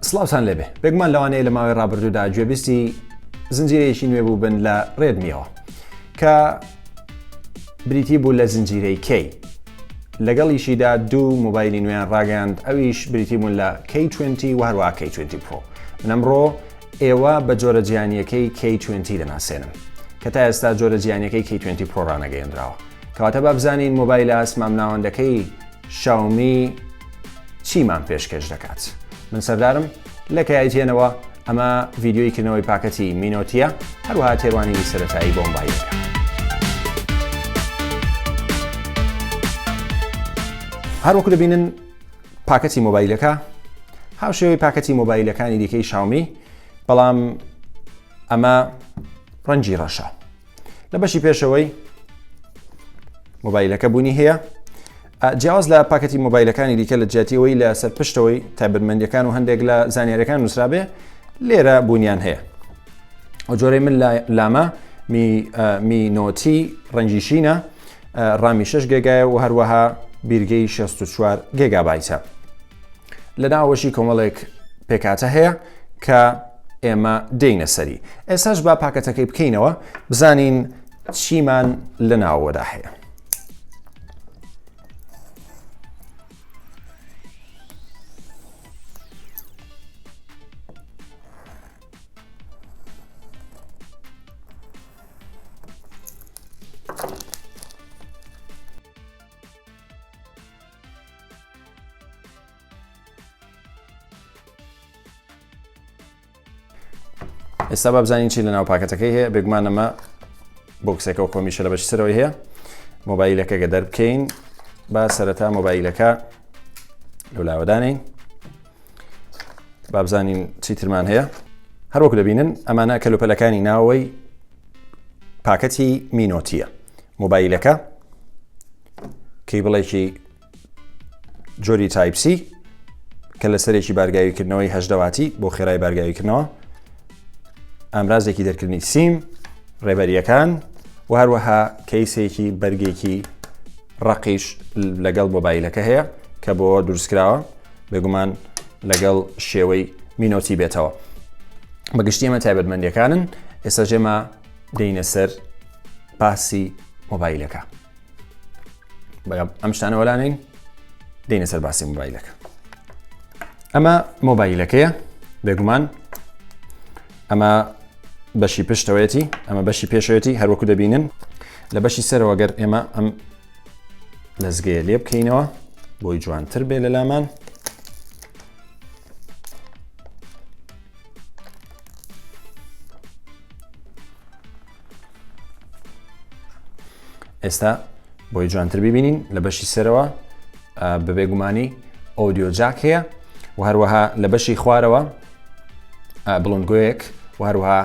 سڵاوتان لێبێ بێگومان لەوانەیە لە ماوەی ڕابردوودا گوێبیستی زنجیرەیەکی نوێ بوو بن لە ڕێدمیەوە کە بریتی بوو لە زنجیرەی کەی لەگەڵیشیدا دوو موبایلی نوێیان ڕاگەاند ئەویش بریتی بوون لە K20 و هەروە K20 پۆ منەمڕۆ ئێوە بە جۆرە جیانیەکەی K20 دەناسێنم کە تا ئێستا جۆرە جیانەکەی K20 پۆڕانەگەێنراوە کەواتە بابزانین مۆبایل ئاسمام ناوەندەکەی شاومی چیمان پێشکەش دەکات من سەردارم لە کەیایتێنەوە ئەمە ڤیددیوی کردنەوەی پاکەتی مینۆتیە هەروها تێوانینی سەتایی بۆمبایەکە هەروەکو دەبینن پاکەتی مۆبایلەکە هاوشێوەی پاکەتی مۆبایلەکانی دیکەی شاومی بەڵام ئەمە ڕەنجی ڕەشە لە بەشی پێشەوەی مۆبایلەکە بوونی هەیە جیاواز لە پاکەتی مۆبایلەکانی دیکە لە جیاتیەوەی لە سەر پشتەوەی تایبەتمەندەکان و هەندێک لە زانیارەکان نووسرابێ لێرە بوونیان هەیە ئەو جۆرەی من لامە مینۆتی ڕەنجی شینە ڕامی شش گێگایە و هەروەها بیرگەی 64 گێگابایتە. لە ناوەشی کۆمەڵێک پێکاتە هەیە کە ئێمە دێینە سەری ئێساش با پاکەتەکەی بکەینەوە بزانین چیمان لە ناوەدا هەیە ئێستا با بزانین چی لە ناو پاکەتەکەی هەیە بێگومان ئەمە بۆکسەکە و کۆمیشە لە بەشی سەرەوەی هەیە مۆبایلەکە گە دەربکەین با سەرەتا مۆبایلەکە لەلاوەدانین بابزانین چیترمان هەیە هەروەک دەبینن ئەمانە کەلوپەلەکانی ناوەی پاکەتی مینۆتیە مۆبایلەکە کەی بڵێکی جۆری تایپسی کە لە سەرێکی بارگاویکردنەوەی هەشدەواتی بۆ خێرای بارگاویکردنەوە ئامرازێکی دەرکردنی سیم ڕێبەریەکان و هەروەها کەیسێکی بەرگێکی ڕقیش لەگەڵ مۆبایلەکە هەیە کە بۆ دروستکراوە بێگومان لەگەڵ شێوەی مینۆتی بێتەوە بەگشتی ئەمە تایبەتمەندیەکانن ئێستا ژێمە دەینە سەر باسی مۆبایلەکە بەڵام ئەم شتانە وەلانین دێنە سەر باسی مۆبایلەکە ئەمە مۆبایلەکەیە بێگومان ئەمە بەشی پشتەوەیەتی ئەمە بەشی پێشەوەتی هەروەکو دەبینن لە بەشی سەرەوەگەر ئێمە ئەم لەزگەیە لێ بکەینەوە بۆی جوانتر بێ لە لامان ئێستا بۆی جوانتر ببینین لە بەشی سەرەوە بەبێ گومانی ئۆدیۆ جاک هەیە و هەروەها لە بەشی خوارەوە بڵندگویەک و هەروها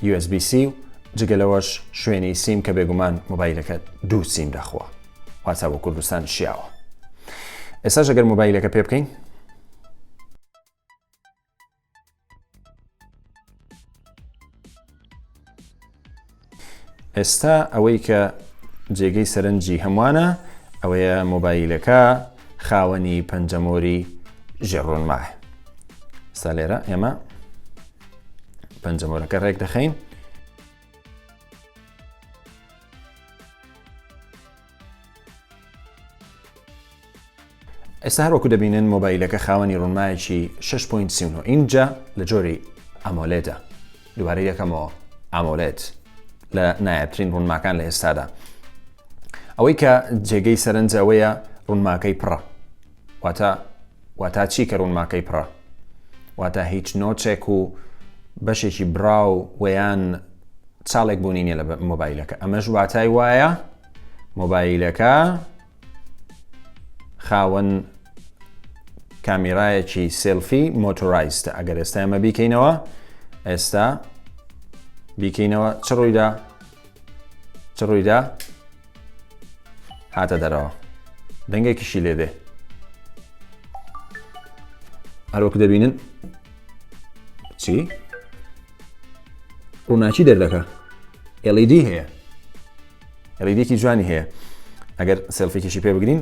یوئێسبی-سی و جگە لەوەش شوێنی سیم کە بێگومان مۆبایلەکەت دوو سیم دەخوا واتە بۆ کوردستان شیاوە ئێستا ژەگەر مۆبایلەکە پێ بکەین ئێستا ئەوەی کە جێگەی سەرنجی هەمووانە ئەوەیە مۆبایلەکە خاوەنی پەنجەمۆری ژێڕۆنماه سالێرە ئێمە پەنجەمۆرەکە ڕێک دەخەین ئێستا هەروەکو دەبینن مۆبایلەکە خاوەنی ڕوونمایەکی 6.9 ئینجا لە جۆری ئەمۆلێدا دووارە یەکەمەوە ئامۆلێت لە نایابترین ڕوونماکان لە ئێستادا ئەوەی کە جێگەی سەرنجەوەیە ڕوونماکەی پڕە واتە واتا چی کە ڕوونماکەی پڕە؟ واتا هیچ نۆچێک و بەشێکی براو وەیان چاڵێک بوونی نیە لە مۆبایلەکە ئەمەش واتای وایە مۆبایلەکە خاوەن کامیرایەکی سلفی مۆتۆرایستە ئەگەر ئێستا ئەمە بیکەینەوە ئێستا بیکەینەوە چ ڕوویدا چ ڕوویدا هاتە دەرەوە دەنگێکیشی لێدێ هەروەک دەبینن چی ڕووناکی دەردەکە LED هەیە ڕیدێکی جوانی هەیە ئەگەر سێلفێکیشی پێ بگرین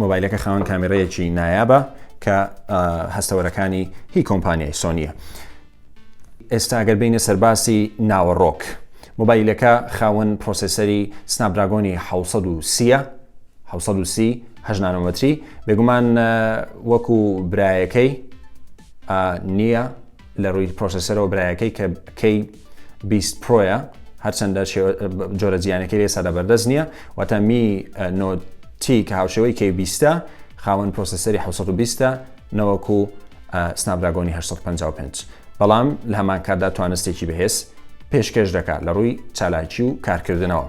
مۆبایلەکە خاوەن کامێرەیەکی نایابە کە هەستەوەرەکانی هی کۆمپانیای سۆنیە ئێستاگەر بینە سەرباسی ناوەڕۆک مۆبایلەکە خاوەن پرۆسسەری سناپدراگۆنی 1930 هەژنانۆمەتری بێگومان وەکو برایەکەی نییە لە ڕووی پرۆسسەرەوە برایەکەی کە کەی بیست پرۆیە هەرچەندە جۆرە جیانەکەی لێ سادە بەردەست نییە واتە می نۆتی کە هاوشێوەی کەی بیستە خاوەن پرۆسسەری 1920 نەوەکو سنابراگۆنی 1955 بەڵام لە هەمان کاتدا توانستێکی بەهێز پێشکەش دەکات لە ڕووی چالاکی و کارکردنەوە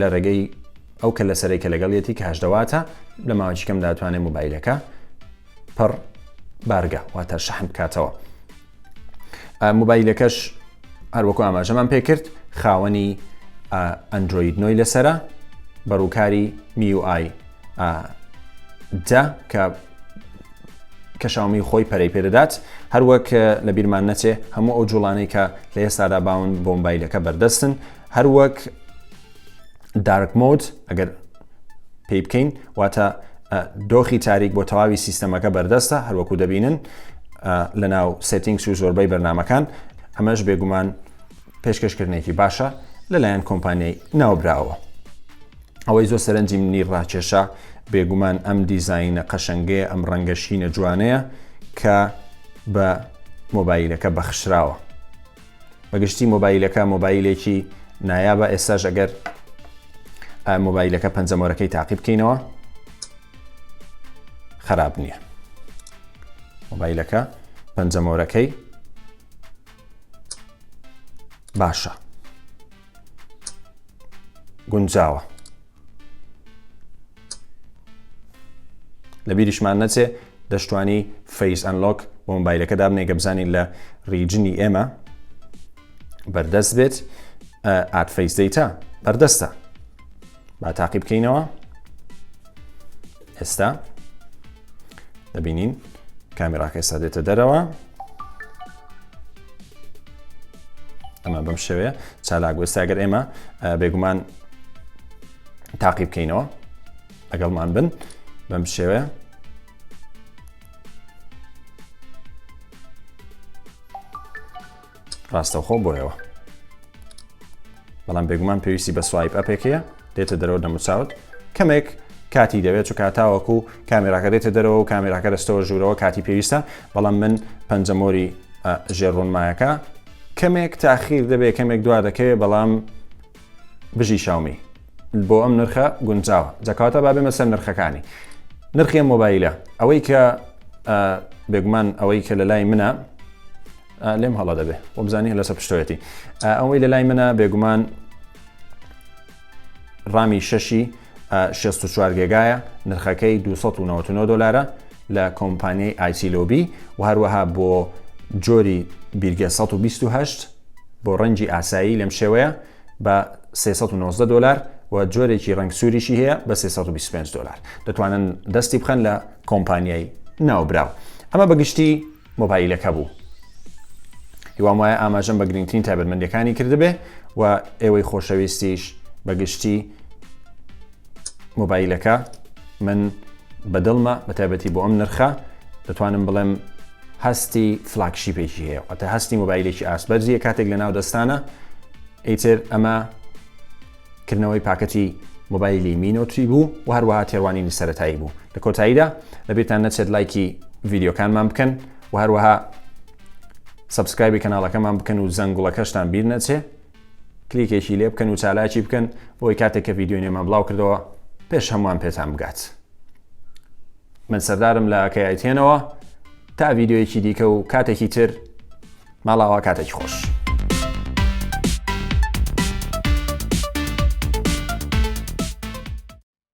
لە ڕێگەی ئەو کە لە سەرەی کە لەگەڵیەتی کاش دەواتە لە ماوەی کەم داتوانێت موبایلەکە پڕ بارگە واتە شەحن بکاتەوە موبایلەکەش هەروەکو ئاماژەمان پێکرد خاوەنی ئەندروید نۆی لەسرە بەڕووکاری میوآی دا کە کەشاومی خۆی پەرەی پێدەدات هەروەک لە بیرمان نەچێ هەموو ئەو جوڵانەی کە لە ئێستادا باون بۆمبایلەکە بەردەستن هەر وەک دارک مۆد ئەگەر پێی بکەین واتە دۆخی تاریک بۆ تەواوی سیستەمەکە بەردەستە هەروەکو دەبینن لە ناو سێتینگس و زۆربەی بەرنمەکان ئەمەش بێگومان پێشکەشکردنێکی باشە لەلایەن کۆمپانیای ناوبراوە ئەوەی زۆر سەرنجی منی ڕاکێشە بێگومان ئەم دیزینە قەشنگەیە ئەم ڕەنگەشینە جوانەیە کە بە مۆبایلەکە بەخشراوە بە گشتی مۆبایلەکە مۆبایلێکی نایابە ئێستاش ئەگەر مۆبایلەکە پەنجەمۆرەکەی تاقی بکەینەوە خراپ نییە مۆبایلەکە پەنجەمۆرەکەی باشە گونجاوە لە بیریشمان نەچێ دەشتوانی فەیس ئەنلۆک بۆ مۆبایلەکە دابنێ گە بزانین لە ریجنی ئێمە بەردەست بێت ئات فەیس دەیتا بەردەستە با تاقی بکەینەوە ئێستا دەبینین کامیراکەی سادێتە دەرەوە ئەمە بەم شوێ چالاک وەستاگەر ئێمە بێگومان تاقی بکەینەوە لەگەڵمان بن بەم شێوەیە ڕاستەوخۆ بۆیەوە بەڵام بێگومان پێویستی بە سوایپ ئەپێکەیە دێتە دەرەوە دەموچاوت کەمێک کاتی دەوێت چ کاتاوەکو کامێراکە دێتە دەرەوە و کامێراکە دەستەوە ژوورەوە کاتی پێویستە بەڵام من پەنجەمۆری ژێڕۆنمایەکە کەمێک تاخیر دەبێت کەمێک دوا دەکەوێت بەڵام بژی شاومی بۆ ئەم نرخە گونجاوە جەکاتە با بێمە سەر نرخەکانی نرخی مۆبایلە ئەوەی کە بێگومان ئەوەی کە لە لای منە لێم هەڵە دەبێ وەبزانانی لەسە پشتەوەتی ئەوەی لە لای منە بێگومان ڕامی شەشی 64 گێگایە نرخەکەی 299 دلارە لە کۆمپانیای ئایسی لۆبی و هەروەها بۆ جۆری بیرگە 1920 بۆ ڕەنجی ئاسایی لەم شێوەیە بە 390 دلار و جۆرێکی ڕنگ سووریشی هەیە بە 325 دلار دەتوانن دەستی بخەن لە کۆمپانیای ناوبراو ئەمە بەگشتی مۆبایلەکە بوو هیوام وایە ئاماژەم بە گرنگترین تایبەتمەندەکانی کردبێ و ئێوەی خۆشەویستیش بەگشتی مۆبایلەکە من بەدڵمە بە تایبەتی بۆ ئەم نرخە دەتوانم بڵێم هەستی فلاکشی پێکی هەیە ئەتە هەستی مۆبایلێکی ئاسبەرزیە کاتێک لە ناو دەستانە ئیتر ئەمە کردنەوەی پاکەتی مۆبایلی می نۆت تری بوو و هەروەها تێڕوانینی سەرەتایی بوو لە کۆتاییدا لەبیرتان نەچێت لایکی ڤیددیوکانمان بکەن و هەروەها سبسکرایبی کەناڵەکەمان بکەن و زەنگوڵەکەشتان بیر نەچێ کلیکێکی لێ بکەن و چالاکی بکەن بۆی کاتێک کە ڤیددیو نێمان بڵاو کردەوە پێش هەمووان پێتان بگات من سەردارم لە کەیتێنەوە تا ڤیددیوەکی دیکە و کاتێکی تر ماڵاوا کاتێکی خۆش.